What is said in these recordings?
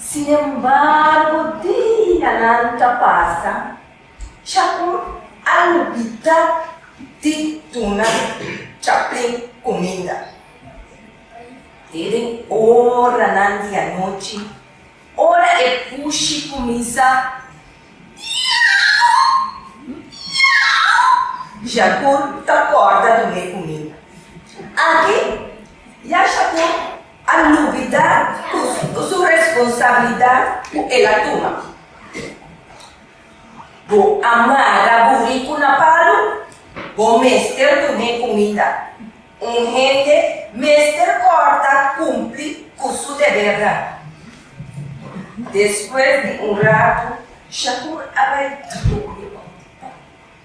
Sinembargo, dianan ta pasa, Chacon a lubida di duna Chaplin cuminda. E den oranan di anochi, ora e pushi cuminsa miau, miau, Chacon ta corda dun'e cuminda. Aki ya Chacon A lubida cu su responsabilidad cu el a tuma. Bo a mara buri cu na palu? Bo mester dun'e cumida. Un hende mester corta cumpli cu su debernan. Despues di un ratu, Shakur a bay duru.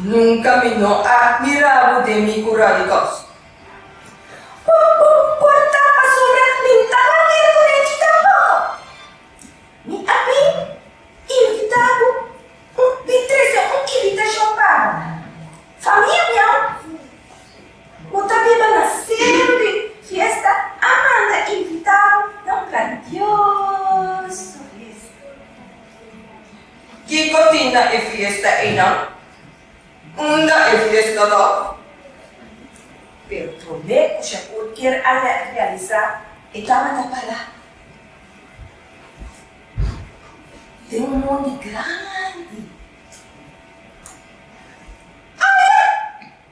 Nunka mi no a mira bo den mi kura di kos. Bo por ta pasobra mi no ta manera ku Richie tampoko. Mi a bin invita bo di trese un invitashon pa famia miau. Bo ta biba na sempe fiesta a manda invita bo na un grandioso fiesta. Kiko tin na e fiesta eina? Unda e fiesta lo? Pero prome ku Shakur kier a realisá e tabata palá. Ten un mondi grandi. Aya!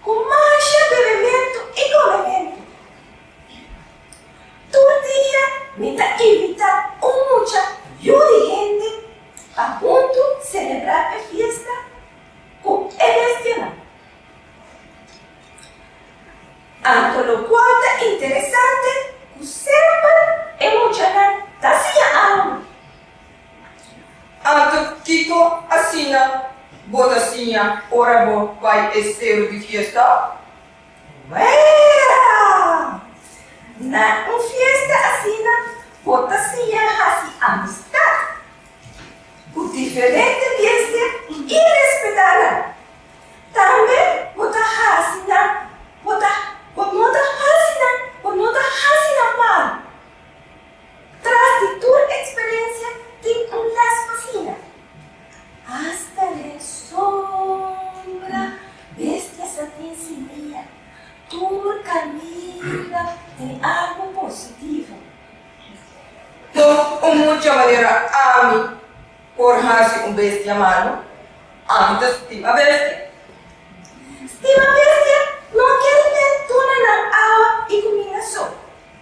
Ku masha bebementu i komementu. Tur dia mi ta invitá un mucha yu di hende pa huntu selebrá e fiesta ku e bestianan. Anto lokua ta interesante ku semper e muchanan ta siña algu. Anto kiko asina bo ta siña ora bo bai e steru di fiesta? Wera! Na un fiesta asina bo ta siña hasi amistad ku diferente bestia i respetá nan. Tambe bo ta hasi nan bo ta bo no ta hasi nan bo no ta hasi nan mal. Tras di tur eksperensia tin un les pa sina. Asta den sombra bestias a tin simia. Tur kaminda tin algu positivo. Tur un mucha manera ami por hasi un bestia malu. Ami ta stima bestia. Stima bestia no ker mes duna nan awa i kumida so.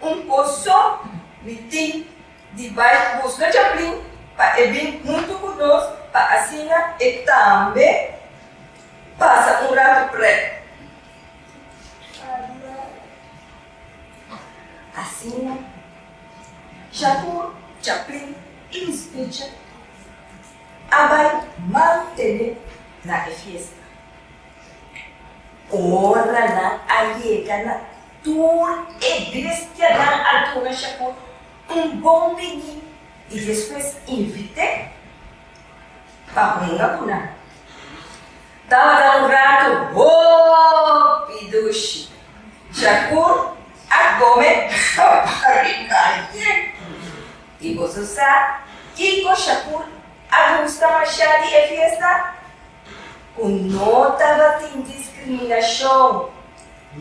Un coso mi tin di bay busca Chaplin pa e bin hunto cu nos pa asina e tambe pasa un rato prek. Asina Shakur Chaplin Inspichan a bay mantene na e fiesta. Ora nan a yega na tur e bestianan a duna Shakun un bon biní i despues invit'é pa hunga ku nan. Tabata un ratu hopi dushi. Shakun a kome kaba riba aye. I boso sa kiko Shakun a gusta mashá di e fiesta? Ku no tabatin diskriminashon.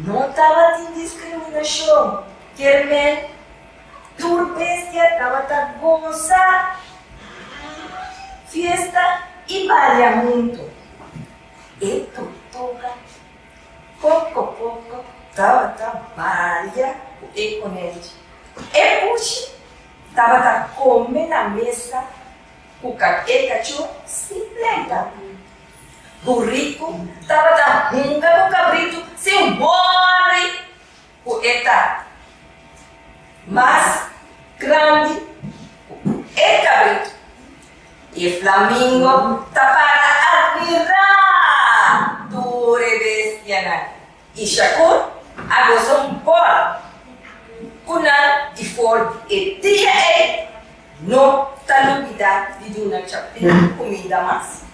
No tabatin diskriminashon kier men tur bestia tabata gosa fiesta i balia huntu. E tortoga poko poko tabata balia ku e konelchi. E pushi tabata kome na mesa. Ku kake kachó simplean tambe. Burriku tabata hunga ku kabritu sin wòri ku e ta mas grandi ku e kabritu. E flamingo ta para admirá tur e bestianan Ishakur a gosa un bòl ku nan i for e dia ei no ta lubidá di duna chapin kumida mas.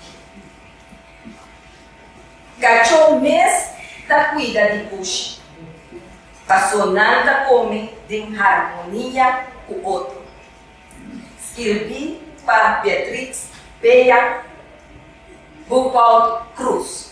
Kachó mes ta kuida di bushi, pasó nan ta kome den harmonia ku otro. Skirbí pa Beatrix Beya Boekwald Cruz.